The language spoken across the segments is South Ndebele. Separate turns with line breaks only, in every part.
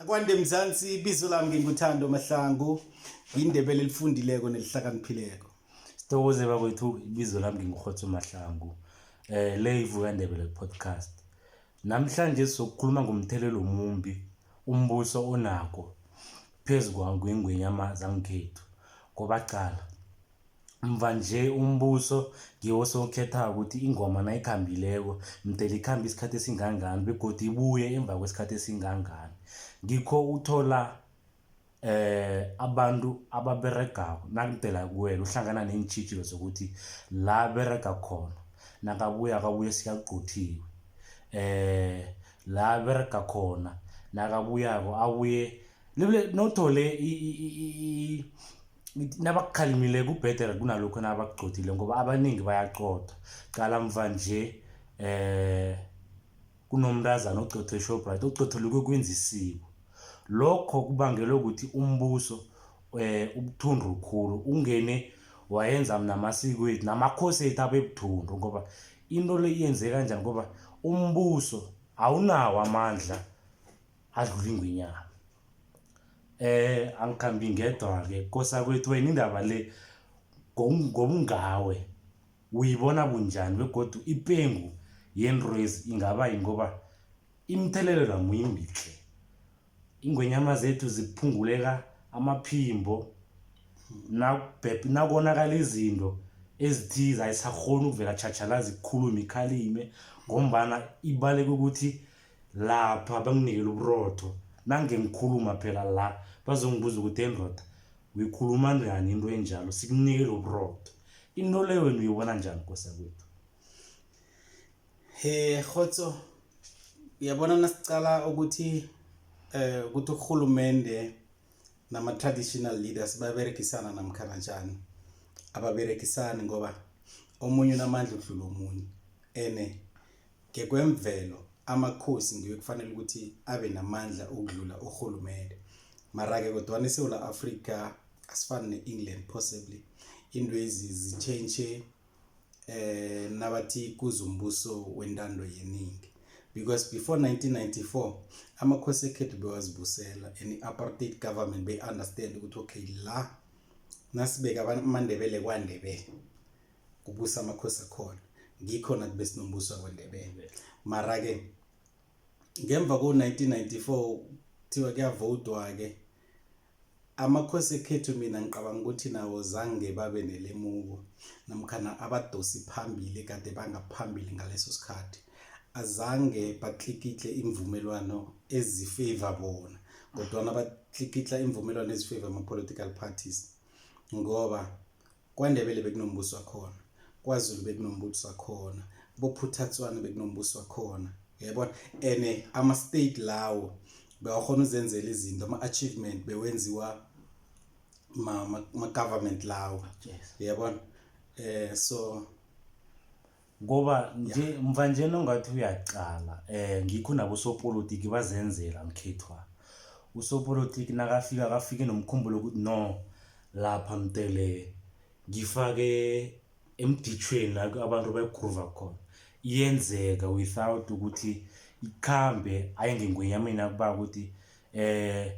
akwande mzansi ibizo lami nginguthando mahlangu ngiyindebele elifundileko nelihlakaniphileko sithokoze
bakwethu ibizo lami ngingurhotho mahlangu um eh, le ivukandebele podcast namhlanje sizokukhuluma ngomthelelo omumbi umbuso onako phezu kwangwengwenyama zangikhethu ngoba cala mva nje umbuso ngiwo sowukhethako ukuthi ingoma nayikhambileko mdele ikhambe isikhathi esingangani begodu ibuye emva kwesikhathi esingangani ngikho uthola eh abantu ababeregako nakudela kuwena uhlangana neentshijilo zokuthi la berega khona nakabuya akabuye sikagqothiwe eh la berega khona nakabuyako abuye nothole nabakukhalimile kubhedere kunalokho nabakugcodile ngoba abaningi bayaqoda qala mva nje eh kunomntazana ogcothe shoprite ogcothelukwe kwenza isiko lokho kubangelwe ukuthi umbuso eh ubuthundu khulu ungene wayenza namasiko ethu namakhosi ethu abebuthundu ngoba into le iyenzeka kanjani ngoba umbuso awunawo amandla adlula ingwenyama eh angikhambi ngedwa-ke kosakwethu wena indaba le ngobungawe uyibona bunjani begodu ipengu yenrwezi ingaba yingoba imithelelo namuyimbihle ingwenyama zethu ziphunguleka amaphimbo nakonakala izinto ezithize ayisahoni ukuvela tshatshalazi ikhulume ikhalime ngombana ibaleke ukuthi lapha banginikele uburotho nange ngikhuluma phela la bazongibuza ukuthi endoda uyikhuluma njani into enjalo sikunikele uburotho into le wena uyibona njani kosa kwethu he
khotso uyabona nasicala ukuthi eh ukuthi urhulumende nama-traditional leaders baberekisana namkhana njani ababerekisani ngoba omunye unamandla udlula omunye ene ngekwemvelo amakhosi ngiwe kufanele ukuthi abe namandla okudlula urhulumende mara-ke kodwana isewula afrika asifani ne-england possibly into ezi zitshentshe eh nabathi kuzumbuso wentando yeningi because before 1994 amakhosi ekhethu bewazibusela and i-apartheid government beyi-understand ukuthi okay la nasibeka amandebele kwandebele kubusa amakhosi akhona ngikhona kube sinombuso wakwendebele mara-ke ngemva ko-1994 kuthiwa kuyavotwa-ke amakhosi ekhethu mina ngicabanga ukuthi nawo zange babe nelemuko namkhana abadosi phambili kade bangaphambili ngaleso sikhathi azange batlikitle imvumelwano ezifavor bona kodwana batlikitla imvumelwano ezifavor ama-political parties ngoba kwandebele bekunombuso wakhona kwazulu bekunombuso wakhona bophuthatswana bekunombuso wakhona yabona and ama-state lawo bewakhona uzenzela izinto ama-achievement bewenziwa ma-government ma, ma lawo yes. yabona um eh, so
ngoba nje mva nje nongathi uyaqala um ngikho nabosopolitiki bazenzela mkhethwa usopolitiki nakafika akafike nomkhumbulo ukuthi no lapha mtele ngifake emditshweni la abantu bayigrova khona iyenzeka without ukuthi ikhambe aye ngengwenyameni akuba ukuthi um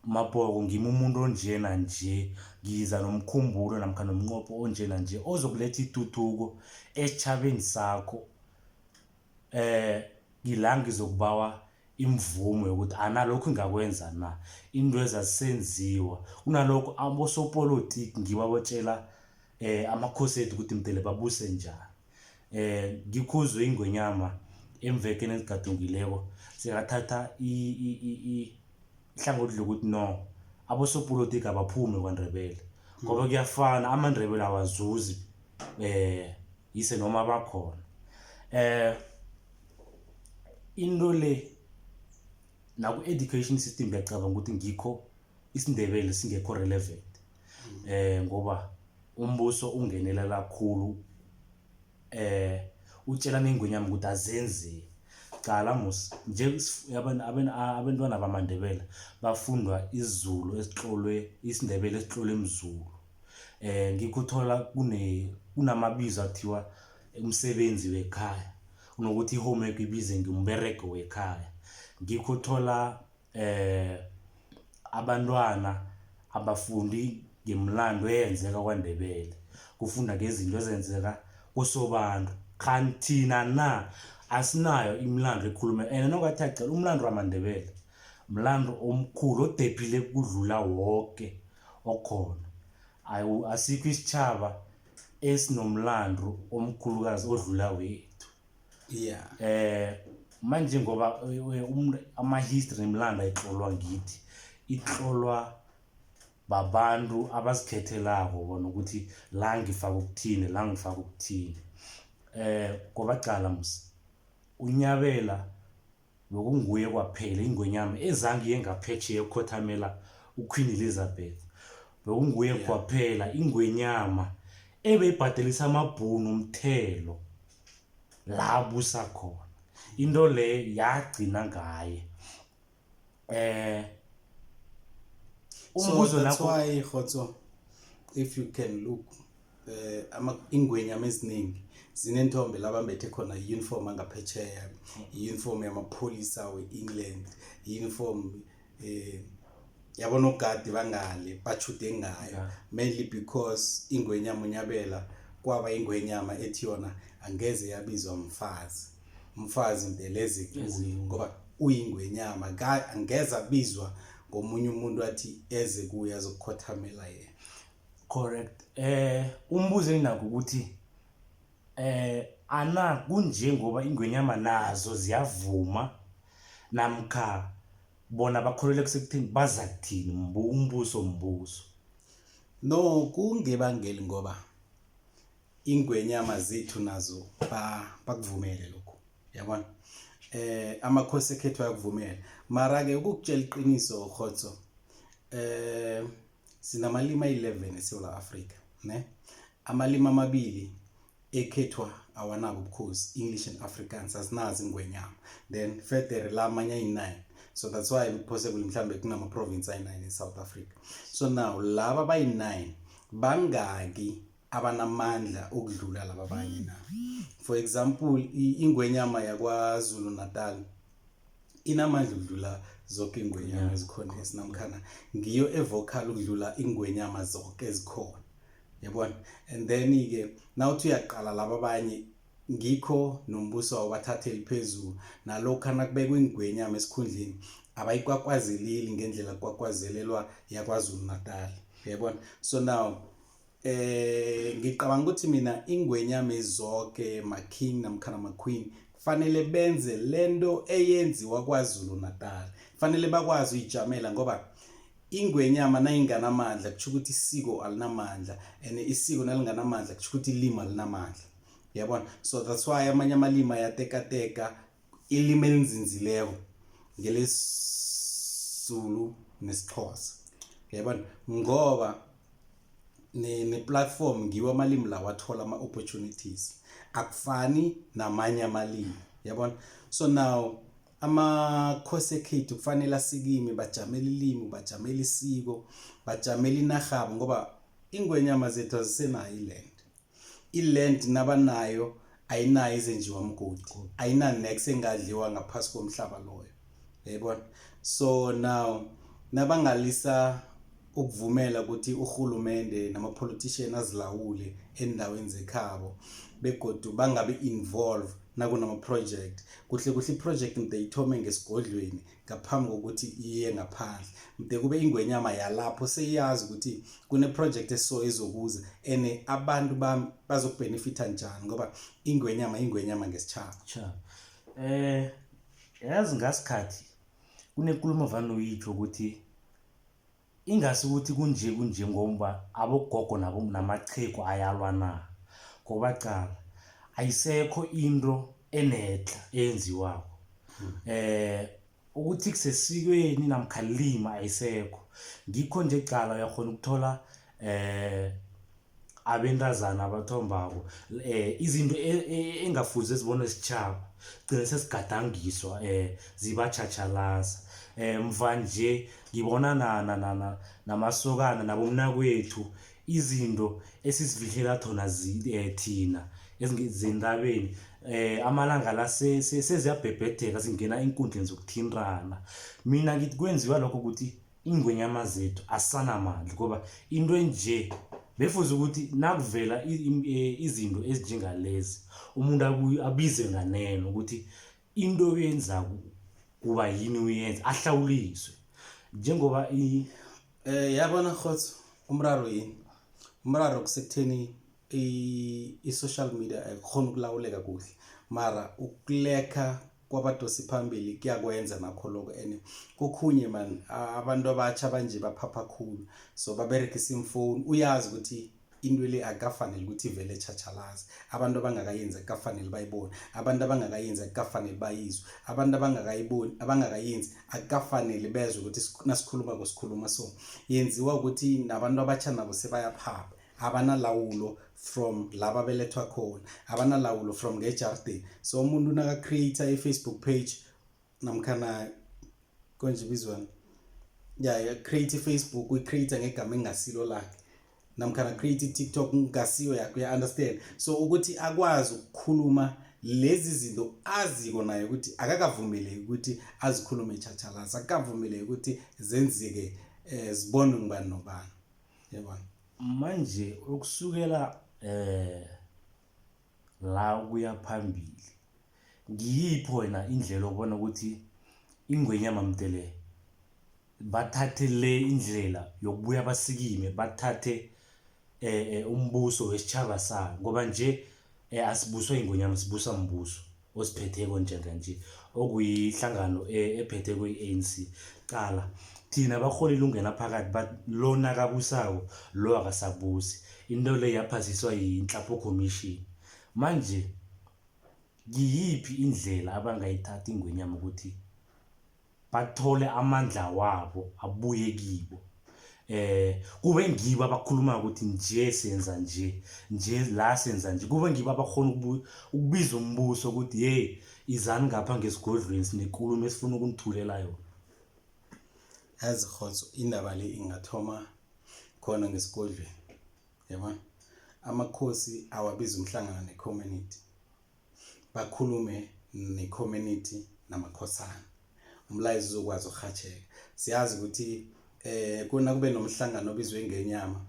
Mabhoko, ngimi umuntu onje nanje, ngiza nomkhumbulo namkha nomnqopho onje nanje ozokuletha ituthuko esitjhabeni sakho. Eh ngila ngizokubawa imvumo yokuthi analokhu ngingakwenza na into ezazisenziwa kunalokho abosopolotiki ngibo abotshela um amakhosi ethu ukuthi mdele babuse njani. eh ngikhuzwe ingwenyama emvekeni ezigadungileko sekathatha ihlangothi lokuthi no abosopolotiki abaphume kwaNdebele ngoba kuyafana amaNdebele awazuzi eh yise noma bakhona eh into le naku-education system ngiyacabanga ukuthi ngikho isindebele singekho relevant eh ngoba umbuso ungenelela khulu eh utshela nengwenyama ukuthi azenzi cala mos nje abantwana bamandebela bafundwa izulu esihlolwe isindebele esihlolwe emzulu eh ngikuthola kune kunamabizo athiwa umsebenzi wekhaya kunokuthi i-homework ibize ngumberego wekhaya ngikuthola eh abantwana abafundi ngemlando eyenzeka kwaNdebele kufunda ngezinto ezenzeka kusobantu khanti thina na asinayo imilando ekhuluma and nokathi acela umlando wamaNdebele mlando omkhulu odephile kudlula wonke okhona asikho isitjhaba esinomlando omkhulukazi odlula wethu yeah
eh manje
ngoba eh, um, ama-history nemilanda itlolwa ngithi itlolwa babantu abazikhethelako bona ukuthi la ngifaka ukuthini la ngifaka ukuthini eh ngoba cala musi unyabela Bekunguye kwaphela ingwenyama ezange iye ngaphetsheya ukukhothamela uQueen Elizabeth. Bekunguye kwaphela ingwenyama ebeyibhadelisa amabhunu umthelo la abusa khona. Into le yagcina ngaye. Eh So
umbuzo that's nakho why Khotso, if you can look eh ama ingwenyama eziningi zinentombe labambethe khona i-uniform angaphetsheya i-uniform yamapholisa we-england i-uniform eh yabona ogadi bangale bachude ngayo yeah. mainly because ingwenyama unyabela kwaba ingwenyama ethi yona angeze yabizwa mfazi mfazi mbeleze kuye ngoba uyingwenyama angeze abizwa ngomunye umuntu athi eze kuye azokukhothamela yena Correct.
Eh umbuzo enginako ukuthi eh ana kunje ngoba ingwenyama nazo ziyavuma namkha bona bakholelwa kusekuthini baza kuthini mbu umbuso mbuso.
No kungebangeli ngoba ingwenyama zethu nazo bakuvumele lokho. Yabona? Eh amakhosi ekhethu ayakuvumela. Mara ke ukukutshela iqiniso khotso eh Sinamalimi a-11 eSewula Afrika, ne? Amalimi amabili ekhethwa awanabo ubukhosi, English and Afrikaans, asinazi ingwenyama. Then federe la amanye ayi-9. So that's why possibly mhlambe kunama-province ayi-9 in South Africa. So now laba bayi-9 bangaki abanamandla ukudlula laba abanye na? For example, i- ingwenyama yaKwaZulu-Natal inamandla ukudlula zonke ingwenyama ezikhona esinamkhana ngiyo evocal ukudlula ingwenyama zonke ezikhona yabona and then ke nawuthi uyaqala laba abanye ngikho nombuso wabathatheli phezulu nalokhu anakubekwa ingwenyama esikhundleni abayikwakwazilili ngendlela kwakwazelelwa yakwazulu natali yabona so now Eh ngicabanga ukuthi mina ingwenyame zonke ma king namkhana ma queen kufanele benze lento eyenziwa kwaZulu Natal kufanele bakwazi uyijamela ngoba ingwenyama nayinganamandla kusho ukuthi isiko alinamandla and isiko nalinganamandla kusho ukuthi ilimi alinamandla yabona so that's why amanye amalimi ayatekateka ilimi elinzinzileko ngelesizulu nesixhosa yabona ngoba ne-platform ne ngiwo amalimi lawo athola ama-opportunities akufani namanye amalimi yabona so now amakhosi ekhethu kufanele asikimi bajamele ilimi bajamele isiko bajamele inarhabo ngoba ingwenyama zethu azisenayo iland i-land nabanayo ayinayo izenjiwa mgodi ayinanex engadliwa ngaphasi komhlaba loyo yayibona so now nabangalisa ukuvumela ukuthi urhulumende nama-politician azilawule endaweni zekhabo begodu bangabi involve nakunama-project kuhle kuhle i-project mde ithome ngesigodlweni ngaphambi kokuthi iye ngaphandle mde kube ingwenyama yalapho seyazi ukuthi kuneprojekthi eso ezokuza and abantu bami bazokubhenefitha njani ngoba ingwenyama ingwenyama ngesitshaba um
yazi ngasikhathi kunenkulumo vane uyitsho ukuthi Ingasi ukuthi kunje kunje ngomba abogogo nabo namachegu ayalwa na ngoba cala ayisekho into enedla eyenziwako um ukuthi kusesikweni namkhalima ayisekho ngikho nje cala uyakghona ukuthola um abentazana abathombako um izinto e-, e-, engafuze zibone sitshaba gcine sesigadangiswa um eh, zibatjhatjhalaza um eh, mva nje ngibona namasokana nabomnakwethu izinto esizifihlela thona um thina zentabeni eh amalanga la seziyabhebhedeka singena eenkundleni zokuthintana mina ngithi kwenziwa lokho ukuthi ingwenyama zethu asanamandla ngoba into enje befuze ukuthi nakuvela e, izinto ezinjengalezi umuntu abize nganeno ukuthi into oyenzako kuba yini uyenza ahlawuliswe njengoba um
yabona khotso umraro yini umraro kusekutheni i-social media ayikhona ukulawuleka kuhle mara ukulekha kwabadosi phambili kuyakwenza nakho lokho and kokhunye man abantu abatsha banje baphapha khulu so baberegisa imfoni uyazi ukuthi into le akafanele ukuthi ivele etshatshalaze abantu abangakayenzi akukafanele bayibone abantu abangakayenzi akukafanele bayizwe abantu abangakayiboni abangakayenzi akukafanele bezwe ukuthi nasikhuluma kwesikhuluma so yenziwa ukuthi nabantu abatsha nabo sebayaphapha abanalawulo from la babelethwa khona abanalawulo from ngejardini so umuntu naka-create i-facebook page namkhana konje ibizwana ya create i-facebook uyicreate ngegama engasilo lakhe namkhana create i-tiktok ngasiyo yakho uya-understand so ukuthi akwazi ukukhuluma lezi zinto aziko naye ukuthi akakavumeleki ukuthi azikhulume etshatshalasi akakavumeleki ukuthi zenzeke um zibonwe ngubani nobani yabona manje
ukusukela eh la kuya phambili ngiyiphi wena indlela obona ukuthi ingwenyama mdele bathathe le indlela yokubuya basikime bathathe eh, eh umbuso wesitshaba sayo ngoba nje eh, asibuswa ingonyama sibusa mbuso osiphetheko njenganje okuyihlangano e, ephethe kwe-anc qala thina barholi lungena phakathi but lo nakabusako lo akasabusi into le yaphasiswa yinhlapho commission manje ngiyiphi indlela abangayithatha ingwenyama ukuthi bathole amandla wabo abuye kibo eh kube ngibo abakhuluma ukuthi nje senza nje nje la senza nje kube ngibo abakhona ukubiza umbuso ukuthi hey izani ngapha ngesigodlweni sinekulumo esifuna ukunithulela yona
yazi khotso indaba le ingathoma khona ngesigodlweni yabona amakhosi awabiza umhlangano necommunity bakhulume ne-community namakhosana umlayezo uzokwazi ukurhatsheka siyazi ukuthi eh kuna kube nomhlangano obizwe ngenyama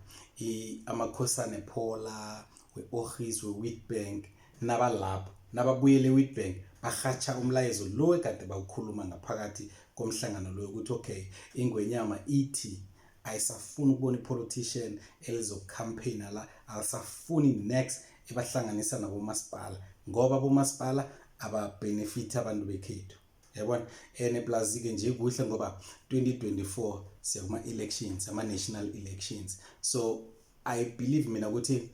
amakhosane phola we-orhis we-witbank nabalapho nababuyele e-witbank barhatsha umlayezo lo ekade bawukhuluma ngaphakathi komhlangano loyo ukuthi okay ingwenyama ithi ayisafuni ukubona ipolitician elizokucampaigna la alisafuni next ebahlanganisa nabomasipala ngoba abomasipala ababhenefithi abantu bekhethu yabona and plus-ke nje kuhle ngoba 2024 siyakuma-elections ama-national elections so i believe mina ukuthi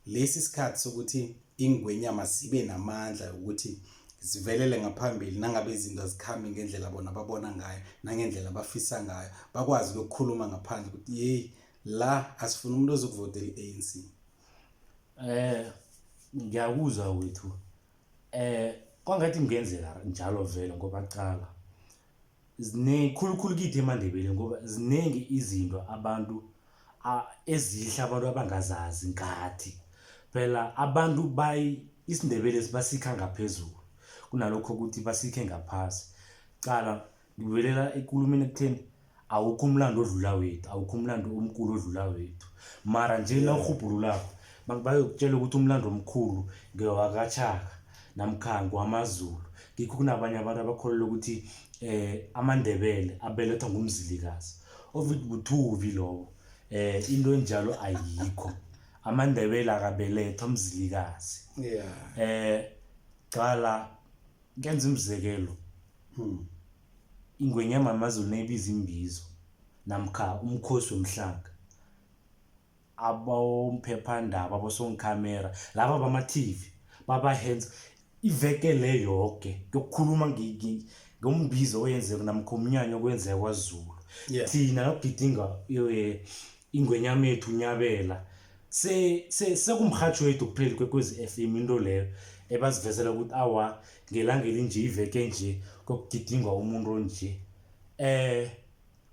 lesi sikhathi sokuthi ingwenyama zibe namandla yokuthi zivelele ngaphambili nangabe izinto azikhambi ngendlela bona babona ngayo nangendlela bafisa ngayo bakwazi ukukhuluma ngaphandle ukuthi yeyi la asifuna umuntu ozokuvotela i-anc Eh
ngiyakuzwa wethu. Eh kwangathi kungenzeka njalo vele ngoba qala ziningi khulukhulu kithi emaNdebeleni ngoba ziningi izinto abantu ezihle abantu abangazazi ngathi. Phela abantu bayi isiNdebele basikha ngaphezulu kunalokho ukuthi basikhe ngaphasi. Qala ngibuyelela ekulumeni ekutheni awukho umlando odlula wethu awukho umlando omkhulu odlula wethu mara nje na urhubhululako bayokutshela ukuthi umlando omkhulu ngewakatshaka namkhango wamazulu ngikho kunabanye abantu abakholelwa ukuthi um amandebele abelethwa ngumzilikazi ovithi buthuvi lowo eh into enjalo ayikho amandebela akabelethwa mzilikazi yeah eh qala ngenza umzekelo hmm. ingwenyama amazulu nebiza imbizo namkha umkhosi womhlanga abomphephandaba abosongikhamera laba bama-tv baba-hands iveke le yoke yokukhuluma ngombizo oyenzeko namkha umnyanya okwenzeka kwazulu thina nokugidinga ingwenyamethu unyabela sekumrhatshwethu kupheli kwekwezi f m into leyo ebazivezela ukuthi awa ngelanga elinje iveke nje kokugidingwa umuntu onje eh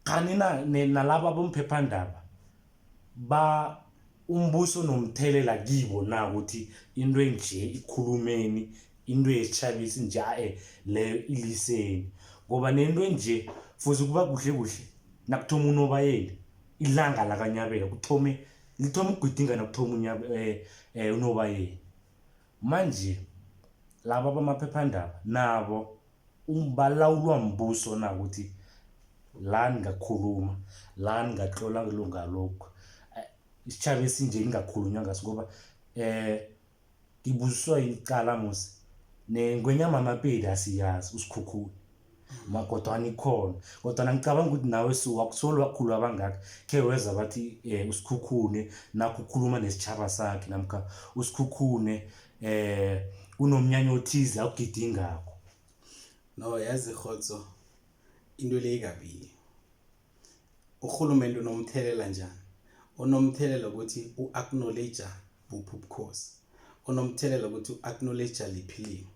khani na nalabo abomphephandaba ba umbuso nomthelela kibo na ukuthi into enje ikhulumeni into yesitshabisi nje ae leyo iliseni ngoba nento enje fuze kuba kuhle kuhle nakuthoma unobayeni ilanga lakanyabela kuthome lithoma ukugidingana kuthoma um eh, eh, unobayeni manje laba bamaphephandaba nabo balawulwa mbuso na ukuthi la ningakhuluma la ningatlola lungalokhu eh, isitshaba esinje ningakhulunywa ngaso ngoba um ngibuziswa yini icala musi nengwenyama amapedi asiyazi usikhukhula magodwana ikhona kodwana ngicabanga ukuthi nawe suka kusolo wakhulu abangaka khe weza bathi um usikhukhune nakho ukhuluma nesitshaba sakhe namkha usikhukhune um eh, kunomnyanya othize akugidingakho no
yazi rhotso into le ikabili urhulumente unomthelela njani unomthelela ukuthi u-acknowledge buphi ubukhosi unomthelela ukuthi u-acknowledge liphi limo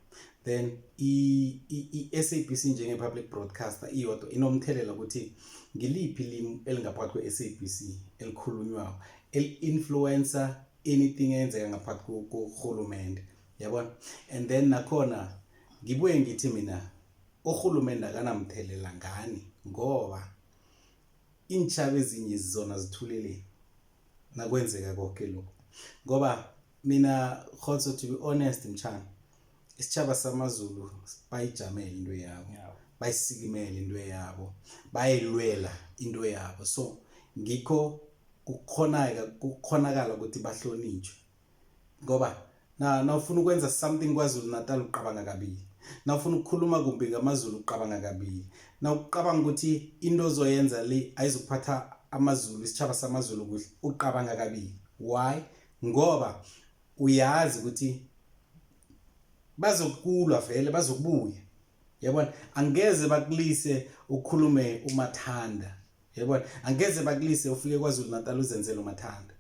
then i-sabc njenge-public broadcaster iyodwa inomthelela ukuthi ngiliphi limi elingaphakathi kwe-sabc elikhulunywako eli-influencer anything eyenzeka ngaphakathi kurhulumente yabona and then nakhona ngibuye ngithi mina urhulumende akanamthelela ngani ngoba iintshaba ezinye zizona zithulele nakwenzeka konke lokhu ngoba mina khotso to be honest mtshana isitshaba samazulu bayijamele into yabo bayisikimele into yabo bayilwela into yabo so ngikho kukhonaka kukhonakala ukuthi bahlonitshwe ngoba na nawufuna ukwenza something kwazulu natal uqabanga kabili nawufuna ukukhuluma kumbi ngamazulu uqabanga kabili nawuqabanga ukuthi into ozoyenza le ayizokuphatha amazulu isitshaba samazulu kuhle uqabanga kabili why ngoba uyazi ukuthi bazokulwa vele bazokubuya yabona angeze bakulise ukhulume umathanda yebona angeze bakulise ufike kwazulu natal uzenzele umathanda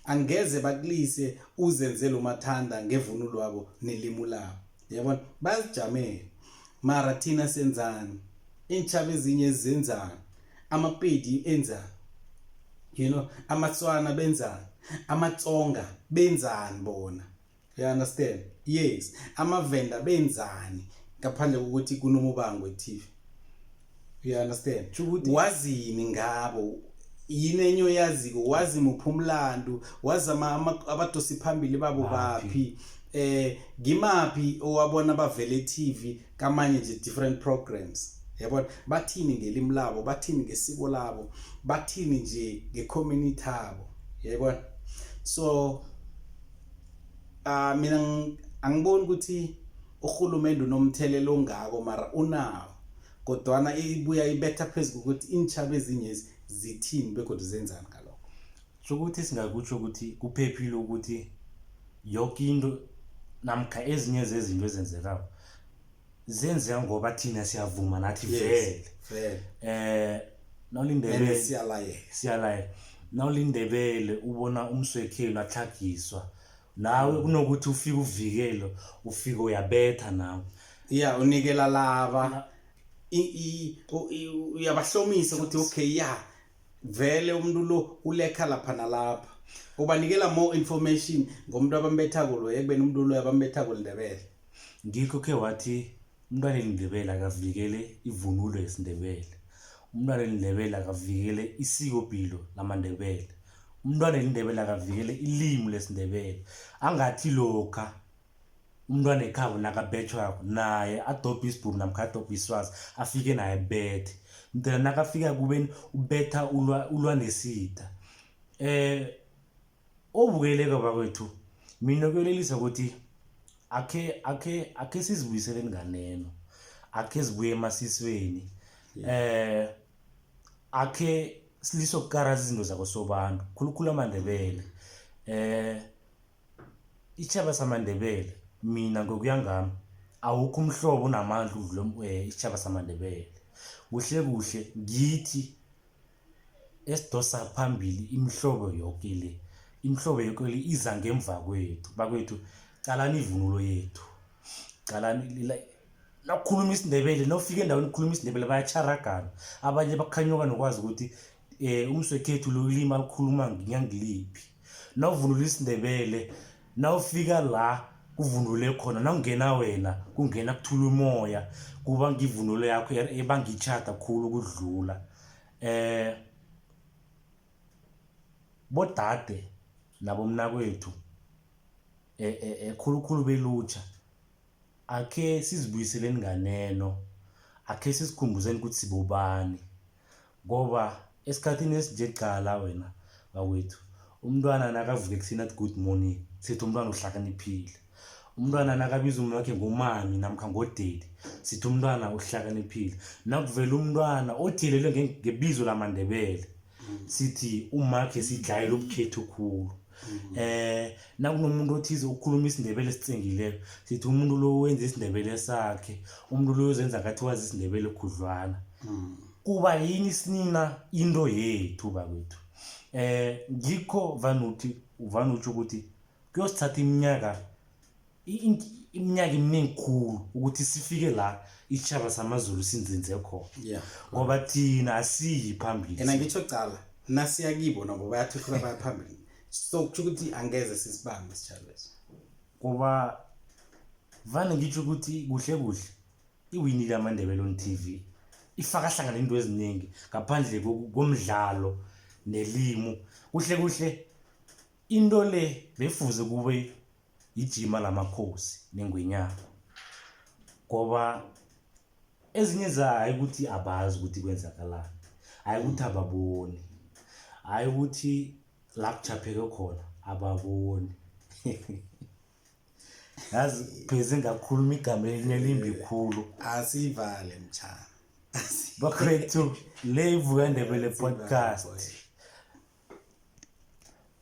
angeze bakulise uzenzele umathanda ngevunulo wabo nelimu labo yabona bazijamele mara thina senzani iintshaba ezinye ezenzani amapedi enzani you know amatswana benzani amatsonga benzani bona you understand yes amavenda benzani ngaphandle kokuthi kunomubango etv you understand wazini ngabo yini enye oyaziko wazi muphi umlandu wazi abadosi phambili babo baphi eh ngimaphi owabona bavele TV kamanye nje different programs yabona bathini ngelimi labo bathini ngesiko labo bathini nje ngecommunity yabo yabona so Ah mina angiboni ukuthi urhulumende unomthelela ongako mara unawo kodwana ibuya ibetha phezu kokuthi iintshaba ezinyezi zithini begodwa zenzani ngalokho so ukuthi
singakutsho ukuthi kuphephile ukuthi yoke into namkha ezinye zezinto ezenzekako zenzeka ngoba thina siyavuma nathi vele eh nawulindebele siyalayela nawulindebele ubona umswekhelo atlhagiswa nawe mm. kunokuthi ufike uvikelo ufike uyabetha nawe ya unikela
laba uyabahlomisa ukuthi okay ya vele umuntu lo ulekha lapha nalapha ubanikela more information ngomuntu abambethako loyo ekubeni umuntu loyo abambethako lindebele Ngikho khe
wathi umntwana eliNdebele akavikele ivunulo yesiNdebele. Umntwana eliNdebele akavikele isikopilo lamaNdebele. Umntwana eliNdebele akavikele ilimi lesiNdebele. Angathi lokha umntwana ekhabo nakabethwako naye adobhe isibhuru namkha adobhe iswazi afike naye bethe mdela nakafika kubeni ubetha ulwa, ulwa nesitha um eh, obukeleko bakwethu mina kuyolelisa ukuthi akhe akhe akhe sizibuyisele nganeno akhe zibuye emasisweni eh akhe siliso kukaraza izinto zakosobantu khulukhulu amandebele eh ichaba samandebele mina ngokuya ngami awukho umhlobo unamandla udlule eh, ichaba samandebele kuhle kuhle ngithi esidosa phambili imihlobo yoke le imihlobo yoke le iza ngemva kwethu bakwethu qalani ivunulo yethu qalani nakukhuluma isindebele nofika endaweni ukukhuluma isindebele bayacharagana abanye bakhanyuka nokwazi ukuthi um umswekhethu lo ulima likhuluma ngiyangiliphi navunula isindebele nawufika la kuvunule khona nawungena wena kungena kuthula umoya kuba ngivunulo yakho ebangitjhada khulu kudlula eh bodade nabomnakwethu eh, eh, eh khulukhulu belutsha akhe sizibuyiseleni nganeno akhe sizikhumbuzeni ukuthi sibobani Ngoba esikhathini esinje qala wena bakwethu umntwana nakavuka ekuseni athi good morning sithi umntwana uhlakaniphile umntwana nakabiza umuntu wakhe ngomami namkha ngodedi sithi umntwana uhlakaniphile nakuvela umntwana othilelwe ngebizo lamandebele sithi umakhe sidlayela ubukhethu khulu Mhm. Eh nakunomuntu othize ukukhuluma isindebele sitsengileko sithi umuntu lo wenza isindebele sakhe umuntu lo uzenza ngathi wazi isindebele khudlwana mhm. kuba yini sinina into yethu bakwethu eh ngikho vanuthi vanutsho ukuthi kuyosithatha iminyaka iminyaka iminingi khulu ukuthi sifike la isitshaba samazulu sinzinze khona yeah. ngoba thina asiyi phambili ena ngitsho cala
nasiya kibo nabo bayathuthuka baya phambili so kutsho ukuthi angeze sisibambe isitshabeso ngoba
vane ngitsho ukuthi kuhle kuhle iwinile amandebele on t v ifaka hlangana into eziningi ngaphandle komdlalo nelimu kuhle kuhle Into le befuze kube yijima lamakhosi nengwenyana ngoba ezinye za hayi ukuthi abazi ukuthi kwenzakalani hayi ukuthi ababoni hayi ukuthi la kujapheke khona ababoni yazi pheze ngakhuluma igama elinye elimbi khulu asivale mtshana bakwethu le ivuka ndebele podcast